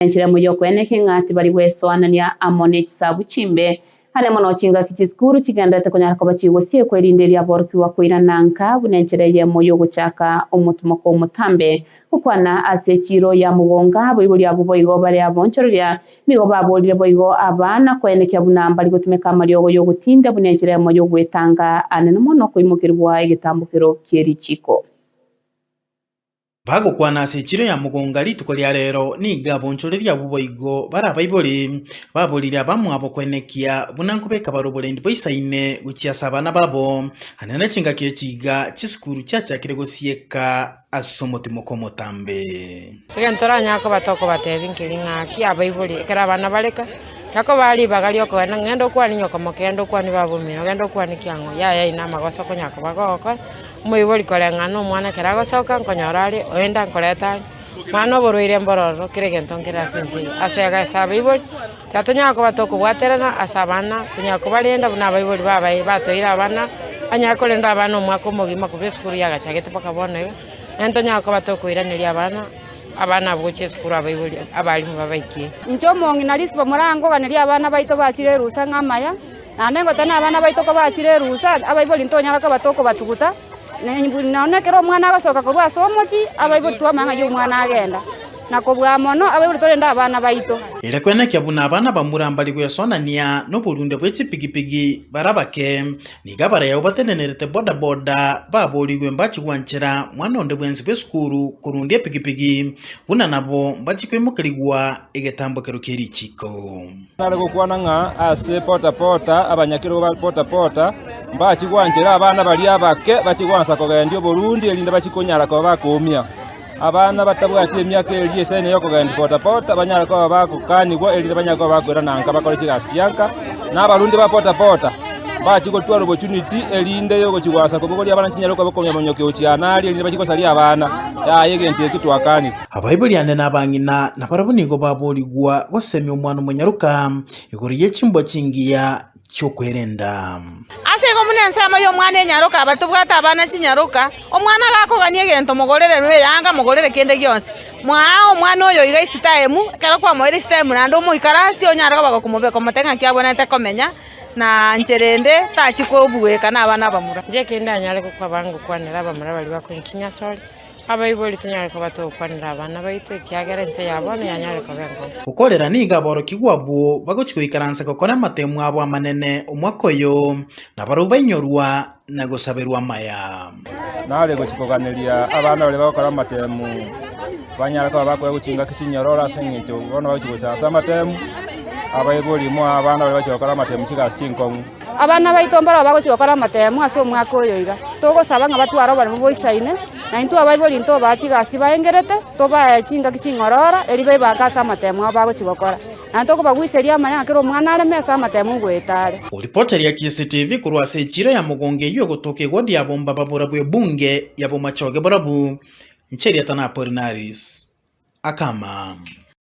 enchilemo y'okoena ekeng'a tibari gwesoanania amo ne chisabu chimbe. Aria mono chingaki chisukuru chigenderete konyara koba chigosiekwa erinde eria aborokigwa koirana nka buna enchera eyemo y'ogochaka omotomoko omotambe. Gokwana ase chiiro ya mogonga, aboibori abwo boigo bare abonchoreria. Nigo baboorire boigo aba na koenekia buna mbari gotumeka amariogo y'ogotinda buna enchera eyemo y'ogwetanga aane nomono okoimokerigwa egetambokero ki'erichiko. Bagokwana ase echiro ya mogonga rituko ria reero, nigo abonchoreria abwo boigo barabaibore, baborire abamwabo koenekia buna nkobeka bar'oborendi boisaine gochia ase abana babo, aye na chingaki echi iga chisukuru chiachakire gosieka ase omotimoko omotambe. Egento toranyare koba tokobatebia nkeri ng'aki abaibori ekero abana bareka, takobaa ribaga ri'okogenda ng'a genda okwane nyoko moko, genda okwanie baba omino, genda okwanie kiang'o, yaya aye namagoso okonyara koba gogokora. Omoibori koreng'ana nomwana ekero agosoka nkonyora are oyo enda nkoreta are, mwana oborwaire mbororo kera egento nkere ase ense eye. Ase iga ase abaibori tatonyara koba tokobwaterana ase abana tonyara kobarenda buna abaibori babae batoeire abana, banyare korenda abana omwaka omogima korwa esukuru yagachagete mpaka bono iga, naende tonyara koba tokoiraneria abana, abana abwo gochia esukuru abaibori abalimu babaikire. Inche omong'ina risibo morangoganerie abana baito bachire erusa ng'a amaya. Naende ngotana abana baito kobachire erusa, abaibori ntonyara koba tokobatuguta, na buna nonya ekero omwana agosoka korwa ase omochie, abaibori twamanya ng'a oyio omwana agenda, na kobua mono abaibori torende abana baito. Ere kwenekia buna abana bamura mbari gwesonania noborunde bwe chipigipigi bara bake, nigo abaraya abwo batenenerete bodaboda baboorigwe mbachi gwanchera mwana onde bwensi bw'esukuru korundia epigipigi buna nabo mbachi koimokerigwa egetambokero kie richiiko. Nare gokwana ng'a ase pota pota abanyakerogo ba pota pota mbachie gwanchera abana baria abake bachie gwansa kogendia oborundi erinde bachie konyara koba bakoumia. Abana batabwati emiaka eria esaino y'okogendia pota pota banyare koba bagokanigwa erinde banyare koba bakoirana nka bakore chigasi chianka, na abarundi ba pota pota mbachie gotwara opportunity erinde y'ogochia gwansa kobogoria abana chinyarwa koba okomonya-monya okeo chiana aria erinde bachie gosaria abana. Yaya egento ekio twakanire. Abaibori ande na abang'ina nabarabwo nigo baboorigwa goseemia omwana omonyaroka igoro ye chimboa chingiya chi'okwerenda. Ase igo buna ensemo y'omwana enyaroka abatobwate abana chinyaroka, omwana agakogania egento mogorere na eyanga mogorere kende gionsi. Mwaa omwana oyo iga esitaemu, ekero kwamoeire esitaemu naende omoikarasie onyare koba gokomobe komotebia ng'aki abwenerete komenya na nchera ende tachi kobugoyeka nabana abamura. Inche ekende anyare gokwa abangokwanera abamura baria bakoinchinyia asore. Abaibori tonyare koba togokwanera abana baito, ekiagera ense ya bono yanyare koba engobo. Gokorera nigo aborokigwa abwo bagochia goikaransa gokora amatemu abo amanene omwaka oyo, na barabwo bainyorwa na gosaberwa amaya. Nare gochia koganeria abana baria bagokora amatemu, banyare koba bakoegwa chingaki chinyororo ase engencho bono bagochia gochia ase amatemu. Abaibori moe abana baria bagochia gokora amatemu chigasi chinkong'u. Abana baito mbarabwo bagochia gokora amatemo ase omwaka oyo iga, togosaba ng'a batware oboremu boisaine, na intwe abaibori ntobae chigasi baengerete, tobae chingaki ching'ororo erio baibanke ase amatemo abo bagochia gokora. Naende tokobaguseria amanya ng'a kera omwana areme ase amatemo ngoeta are. Oripota ya KCTV korwa ase echira ya mogongo eyio egotoka egodi ya bomba babura bw'ebunge ya Bomachoge borabu, Ncheria Tana Apollinaris, akama.